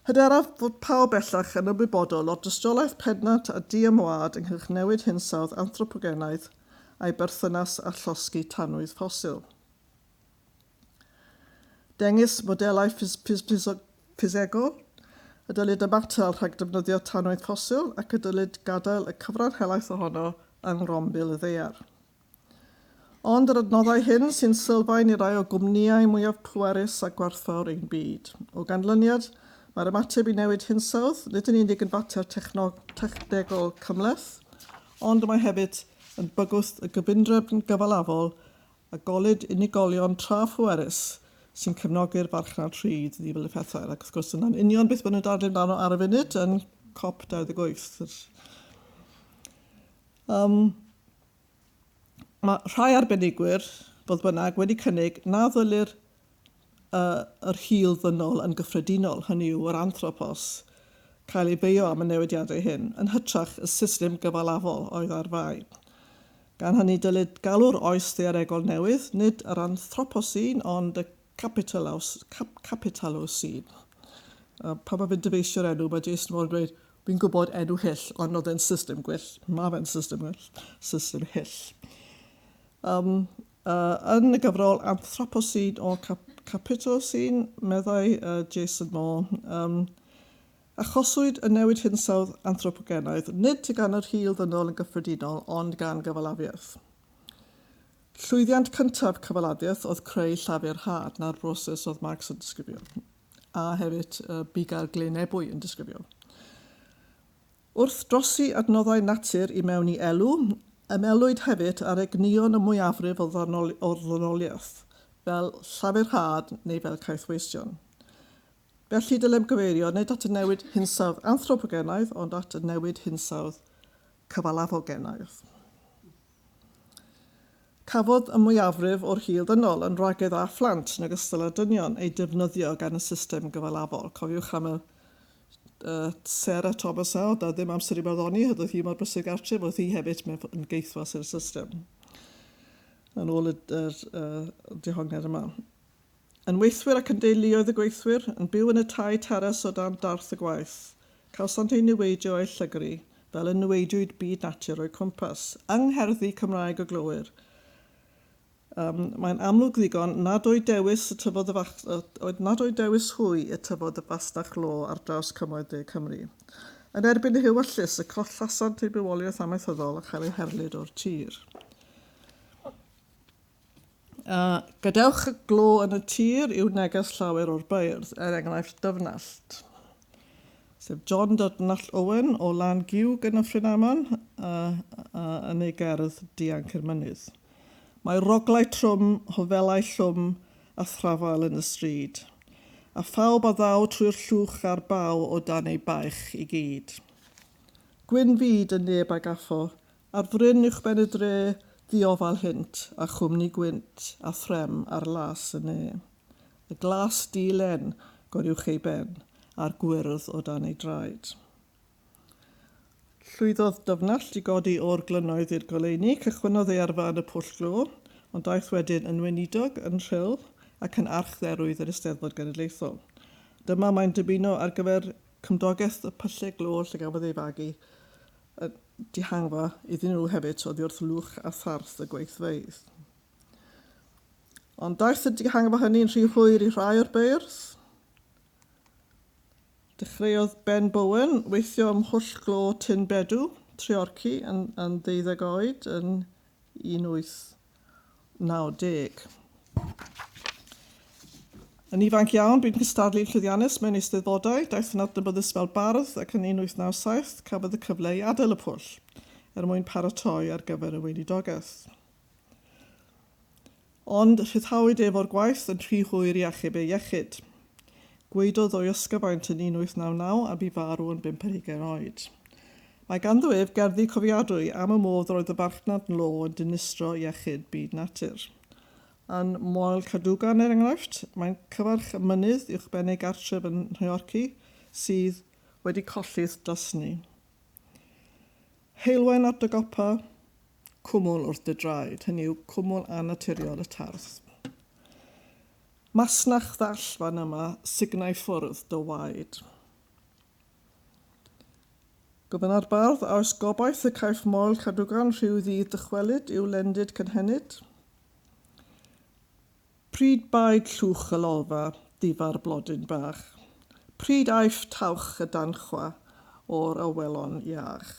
[SPEAKER 1] Hyderaf fod pawb bellach yn ymwybodol o'r dystiolaeth pendant a diymwâd ynghylch newid hinsawdd anthropogenaidd a'i berthynas â llosgi tanwydd ffosil. Dengys modelau ffisegol y dylid ymatal rhag defnyddio tanwydd ffosil ac y dylid gadael y cyfran helaeth ohono yng ngrombil y ddaear. Ond yr adnoddau hyn sy'n sylfaen i rai o gwmnïau mwyaf pwerus a gwerthfawr ein byd. O ganlyniad, mae'r ymateb i newid hinsawdd nid yn unig yn fater technegol cymhleth, ond mae hefyd yn bygwth y gyfundrefn gyfalafol a golled unigolion tra-phwerus sy'n cefnogi'r farchnad rhydd niwed effeithiol. Ac wrth gwrs, dyna'n union beth maen nhw'n dadlu amdano ar y funud yn COP 28. Yr um, Mae rhai arbenigwyr, fodd bynnag, wedi cynnig na ddylir y yr hil ddynol yn gyffredinol, hynny yw, yr anthropos, cael ei beio am y newidiadau hyn, yn hytrach y system gyfalafol oedd ar fai. Gan hynny, dylid galw'r oes ddaearegol newydd, nid yr anthroposin, ond y Capitalos, cap, Capitalos sydd. Uh, pan mae fe'n dyfeisio'r enw, mae Jason Moore yn dweud, fi'n gwybod enw hyll, ond oedd e'n system gwyll. Mae fe'n system gwyll, system hyll. Um, uh, yn y gyfrol Anthroposin o cap, Capitosin, meddai uh, Jason Moore, um, Achoswyd y newid hinsawdd anthropogenaidd nid gan yr hil ddynol yn gyffredinol, ond gan gyfalafiaeth. Llwyddiant cyntaf Cyfalaffiaeth oedd creu Llafur Hâd, 'na'r broses oedd Marx yn disgrifio, a hefyd y Bugail Glyn Ebwy yn disgrifio. Wrth drosi adnoddau natur i mewn i elw, ymelwyd hefyd ar egnïon y mwyafrif o ddynoliaeth, fel Llafur Hâd neu fel caethweision. Felly dylem gyfeirio nid at y newid hinsawdd anthropogenaidd ond at y newid hinsawdd cyfalaf o gennaeth. Cafodd y mwyafrif o'r hil dynol yn wragedd a phlant yn ogystal â dynion eu defnyddio gan y system gyfalafol. Cofiwch am y Sarah Thomas a oedd ddim amser i barddoni, hyd oedd hi mor brysur gartref, oedd hi hefyd yn geithwas i'r system. Yn ôl y, y, y dehongliad yma. Yn weithwyr ac yn deuluoedd y gweithwyr, yn byw yn y tai teres o dan darth y gwaith, cawsant eu niweidio a'u llygru, fel y niweidiwyd byd natur o'u cwmpas, yng ngherddi Cymraeg y glowyr. Ym, mae'n amlwg ddigon nad oedd dewis y tyfodd y fach, oedd nad oedd dewis hwy y tyfodd y fasnach law ar draws cymoedd de Cymru. Yn erbyn y hyw a llys, y collasant eu bywoliaeth amaethyddol a chael eu herlid o'r tir. A gadewch y glo yn y tir i'w neges llawer o'r beirdd, er enghraifft Dyfnallt, sef John Dydnallt Owen o Lan Giwg yn Nyffryn Aman, a, a, yn ei gerdd Dianc i'r Mynydd. Mae roglau trwm, hofelau llwm a thrafael yn y stryd, a phawb a ddaw trwy'r llwch a'r baw o dan ei baich i gyd. Gwyn fyd y neb a gaffo, Ar fryn uwchben y dre, ddiofal hynt, a chwmni gwynt, a threm ar las y ne. Y glas di-len, goruwch ei ben, a'r gwyrdd o dan ei draed. Llwyddodd Dyfnallt i godi o'r glynnoedd i'r goleuni, cychwynnodd ei arfa yn y Pwll Glo, ond daeth wedyn yn weinidog, yn Rhyl, ac yn archdderwydd yr Eisteddfod Genedlaethol. Dyma mae'n dymuno ar gyfer cymdogaeth y Pyllau Glo lle gafodd ei fagu a dihangfa iddyn nhw hefyd oddi wrth lwch a tharth y gweithfeydd. Ond daeth y dihangfa hynny'n rhy hwyr i rhai o'r beirdd. Dechreuodd Ben Bowen weithio ym mhwll glo Tyn Bedw, Treorci, yn, yn ddeuddeg oed yn 18. 1990. Yn ifanc iawn, bu'n cystadlu'n llwyddiannus mewn eisteddfodau, daeth yn adnabyddus fel bardd ac yn 1897 cafodd y cyfle i adael y pwll er mwyn paratoi ar gyfer y weinidogaeth. Ond rhyddhawyd ef o'r gwaith yn rhy hwyr i achub ei iechyd. Gwaedodd o'i ysgyfaint yn 1899 a bu farw yn bump ar hugain oed. Mae ganddo ef gerddi cofiadwy am y modd yr oedd y farchnad law yn dinistrio iechyd byd natur. Yn Moel Cadogan, er enghraifft, mae'n cyfarch y mynydd uwchben ei gartref yn Nhreorci sydd wedi collith dysni. Heulwen at dy gopa, cwmwl wrth dy draed, hynny yw, cwmwl annaturiol y tardd. Masnach ddall fan yma, signau ffwrdd dy waed. Gofynna'r bardd, a oes gobaith y caiff Moel Cadwgan rhyw ddydd dychwelyd i'w lendid cynhenid? Pryd baid llwch y lolfa difa'r blodyn bach? Pryd aiff tawch y danchwa o'r awelon iach?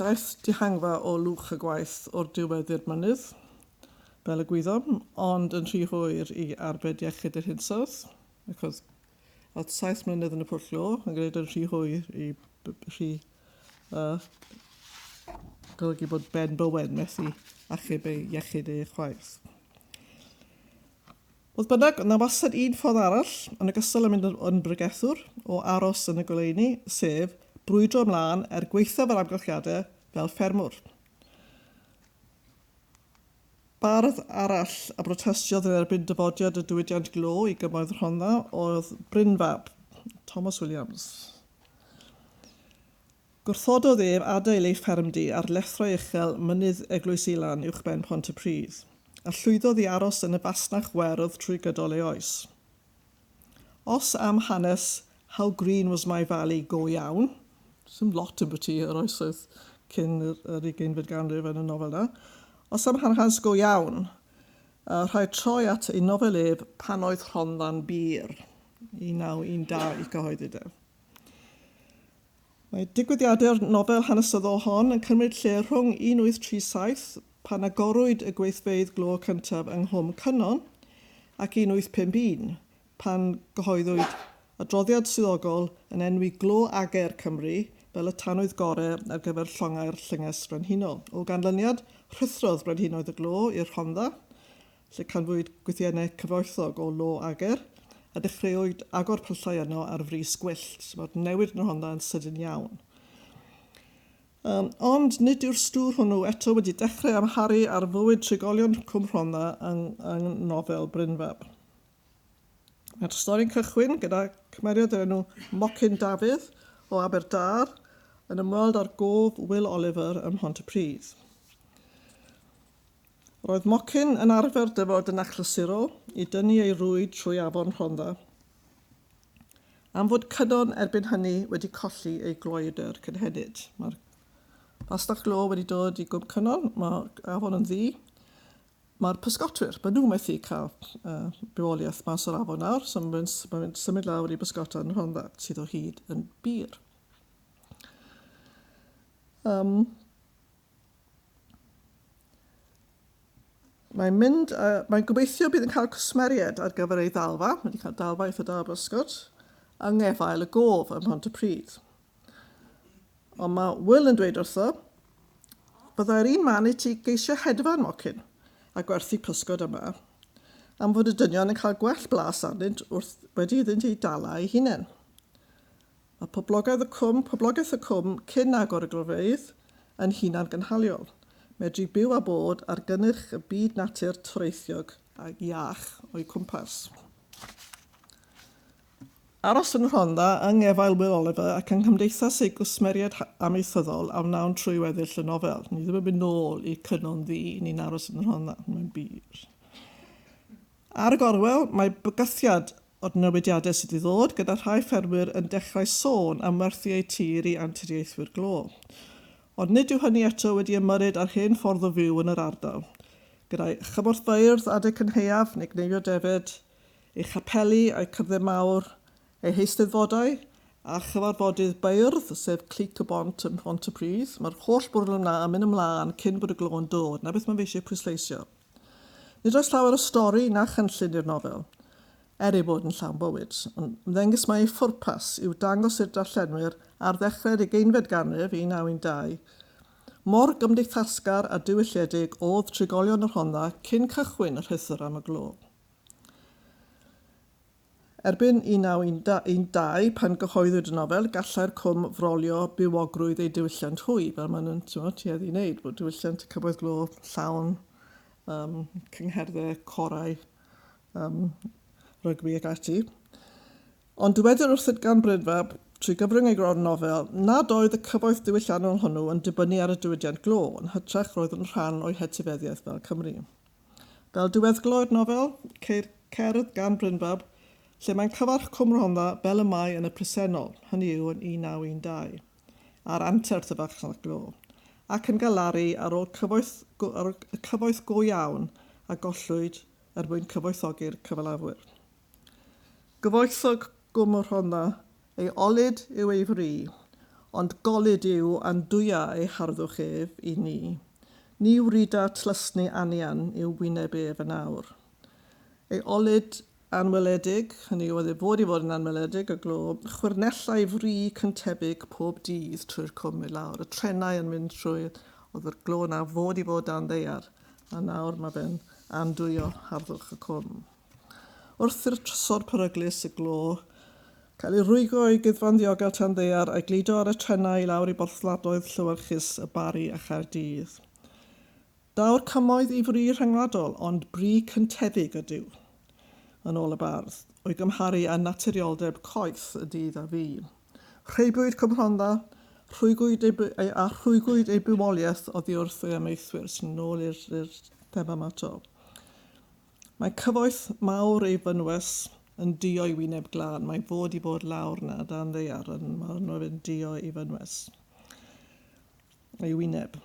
[SPEAKER 1] Daeth dihangfa o lwch y gwaith o'r diwedd i'r mynydd, fel y gwyddom, ond yn rhy hwyr i arbed iechyd yr hinsawdd, ac oedd oedd saith mlynedd yn y pwll lo yn gwneud yn rhy hwyr i rhy uh, golygu bod Ben Bowen methu achub ei iechyd ei chwaith. Fodd bynnag, yna wastad un ffordd arall, yn ogystal â mynd yn bregethwr, o aros yn y goleuni, sef, brwydro ymlaen er gwaethaf yr amgylchiadau, fel ffermwr. Bardd arall a brotestiodd yn erbyn dyfodiad y diwydiant glo i Gymoedd Rhondda oedd Brynfab, Thomas Williams. Gwrthododd ef adael ei ffermdy ar lethrau uchel Mynydd Eglwys Ilan uwchben Pontypridd, a llwyddodd i aros yn y fasnach werdd trwy gydol ei oes. Os am hanes 'How Green Was My Valley' go iawn, does dim lot ambwti yr oesoedd cyn yr ugeinfed ganrif yn y nofel yna, os am hanes go iawn, rhaid troi at ei nofel ef 'Pan Oedd Rhondda'n Bur', 1912, cyhoeddwyd ef. Mae digwyddiadau'r nofel hanesyddol hon yn cymryd lle rhwng 1837, pan agorwyd y gweithfeydd glo cyntaf yng Nghwm Cynon, ac 1851, pan gyhoeddwyd adroddiad swyddogol yn enwi glo ager Cymru fel y tanwydd gore ar gyfer llongau'r Llynges Frenhinol. O ganlyniad, rhuthrodd brenhinoedd y glo i'r Rhondda, lle canfuwyd gwythiennau cyfoethog o lo ager, a dechreuwyd agor pyllau yno ar frys gwyllt, so mae'r newid yn y Rhondda yn sydyn iawn. Um, ond nid yw'r stŵr hwnnw eto wedi dechrau amharu ar fywyd trigolion Cwm Rhondda yng, yng nofel Brynfab. Mae'r stori'n cychwyn gyda cymeriad o'r enw Mocyn Dafydd o Aberdâr yn ymweld â'r gof Will Oliver ym Mhont-y-pridd. Roedd Mocyn yn arfer dyfod yn achlysurol i dynnu ei rwyd trwy afon Rhondda. Am fod Cynon erbyn hynny wedi colli ei gloedr cynhenid, mae'r fastell glo wedi dod i Gwm Cynon, mae afon yn ddu, mae'r pysgotwyr, maen nhw methu cael uh, bywoliaeth mas o'r afon nawr, so mae'n ma symud lawr i bysgota yn Rhondda, sydd o hyd yn bir. Um, Mae'n mynd, uh, mae'n gobeithio bydd yn cael cwsmeriaid ar gyfer ei ddalfa, wedi cael dalfa eitha da brysgod, yng ngefael y gof ym Mhont y Pryd. Ond mae Will yn dweud wrtho, byddai'r un man i ti geisio hedfan mocyn a gwerthu pysgod yma, am fod y dynion yn cael gwell blas arnynt wrth wedi iddynt eu dala eu hunain. Mae poblogaidd y cwm, poblogaeth y cwm cyn agor y glofeydd, yn hunangynhaliol. Medru byw a bod ar gynnyrch y byd natur toreithiog a iach o'u cwmpas. Aros yn Rhondda yng ngefail Will Oliver ac yng nghymdeithas ei gwsmeriaid amaethyddol a wnawn trwy weddill y nofel. Ni ddim yn mynd nôl i'r Cynon Ddu, ni'n aros yn Rhondda, mae'n bur. Ar y gorwel, mae bygythiad o'r newidiadau sydd i ddod, gyda rhai ffermwyr yn dechrau sôn am werthu eu tir i anturiaethwyr glo. Ond nid yw hynny eto wedi ymyrryd â'r hen ffordd o fyw yn yr ardal, gyda'i chymorthfeydd adeg cynhaeaf neu gneifio defaid, ei chapeli a'i cyfle mawr, ei heisteddfodau, a chyfarfodydd beirdd, sef Clic y Bont ym Mhont-y-pridd. Mae'r holl bwrlwm 'na yn mynd ymlaen cyn bod y glo yn dod. 'Na beth mae fe eisiau pwysleisio. Nid oes llawer o stori na chynllun i'r nofel, er ei bod yn llawn bywyd, ond ymddengys mai ei phwrpas yw dangos i'r darllenwyr ar ddechrau'r ugeinfed ganrif, 1912, mor gymdeithasgar a diwylliedig oedd trigolion y Rhondda cyn cychwyn y rhuthr am y glo. Erbyn 1912, pan gyhoeddwyd y nofel, gallai'r Cwm frolio bywogrwydd ei diwylliant hwy, fel maen nhw'n ti'mod, tueddu i wneud, bod diwylliant y Cyfoeth Glo llawn um, cyngherddau, corau, um, rygbi ac ati. Ond dywedir wrthynt gan Brynfa, trwy gyfrwng ei gron'r nofel, nad oedd y cyfoeth diwylliannol hwnnw yn dibynnu ar y diwydiant glo, yn hytrach roedd yn rhan o'i hetifeddiaeth fel Cymry. Fel diweddglo'r nofel, ceir cerdd gan Brynfab lle mae'n cyfarch Cwm Rhondda fel y mae yn y presennol, hynny yw yn 1912, a'r anterth y farchnad glo, ac yn galaru ar ôl cyfoeth go, ar ôl y cyfoeth go iawn a gollwyd er mwyn cyfoethogi'r cyfalafwyr. Gyfoethog Gwm y Rhondda Ei ollid yw ei fri, ond gollid yw andwya ei harddwch ef i ni. Ni wrida tlysni anian i'w wyneb ef yn awr. Ei ollid anweledig, hynny yw oedd ei fod i fod yn anweledig, y glo, chwyrnellai fri cyntefig pob dydd trwy'r cwm i lawr, y trenau yn mynd trwydd, oedd yr glo na fod i fod dan ddaear, a nawr mae fe'n andwyo harddwch y cwm. Wrth i'r trysor peryglus y glo cael ei rwygo i guddfan ddiogel Tanddaear a'i gludo ar y trenau i lawr i borthladdoedd llewyrchus y Barri a Chaerdydd. Daw'r cymoedd i fri rhyngwladol, ond bri cyntefig ydyw, yn ôl y bardd, o'i gymharu â naturioldeb coeth y dydd a fu. Rheibiwyd Cwm Rhondda, rhwygwyd ei, a rhwygwyd ei bywoliaeth oddiwrth ei amaethwyr, sy'n ôl i'r thema yma to. Mae cyfoeth mawr ei fynwes yn duo i wyneb glân. Mae'n fod i fod lawr 'na dan ddaear yn Marnwr yn duo i fynwes ei wyneb.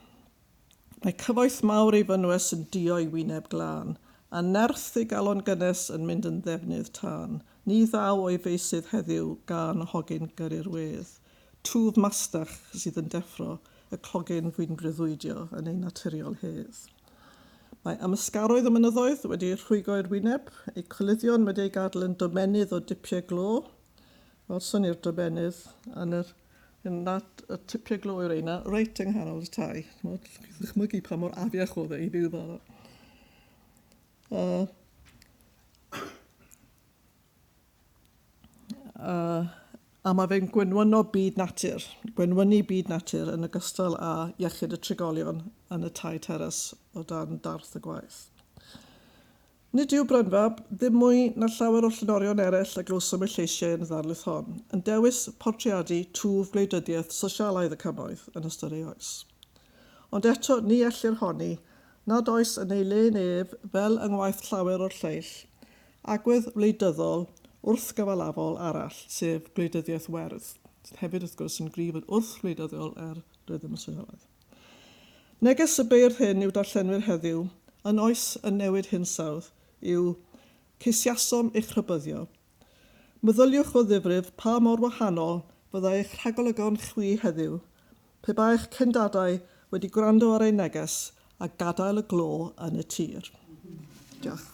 [SPEAKER 1] Mae cyfoeth mawr ei fynwes yn duo i wyneb glân, a nerth ei galon gynnes yn mynd yn ddefnydd tân. Ni ddaw o'i feysydd heddiw gân hogyn gyrru'r wedd. Twf mastach sydd yn deffro y clogyn fu'n breuddwydio yn ei naturiol hedd. Mae amysgaroedd y mynyddoedd wedi rhwygo i'r wyneb, eu coluddion wedi eu gadl yn domennydd o dipiau glo, welson ni'r domennydd yn yr yn nad y tipiau glo yw'r reina, reit yng nghanol y tai. Chymod, chi'n ddychmygu pa mor afiach oedd e i fyw fel yna. Uh, Yy. A mae fe'n gwenwyno byd natur, gwenwynu byd natur yn ogystal â iechyd y trigolion yn y tai teres o dan darth y gwaith. Nid yw Brynfab, ddim mwy na llawer o'r llenorion eraill a glywsom eu lleisiau yn y ddarlith hon, yn dewis portreadu twf gwleidyddiaeth sosialaidd y cymoedd yn ystod ei oes. Ond eto ni ellir honni nad oes yn ei le neb fel yng ngwaith llawer o'r lleill Agwedd wleidyddol wrthgyfalafol arall, sef gwleidyddiaeth werdd, sydd hefyd wrth gwrs yn gryf yn wrthwleidyddol er rydym yn sylweddoli. Neges y beirdd hyn i'w darllenwyr heddiw, yn oes y newid hinsawdd, yw, Ceisiasom eich rhybyddio. Meddyliwch o ddifrif pa mor wahanol fyddai eich rhagolygon chwi heddiw Pe baech cyn dadau wedi gwrando ar eu neges a gadael y glo yn y tir. Diolch.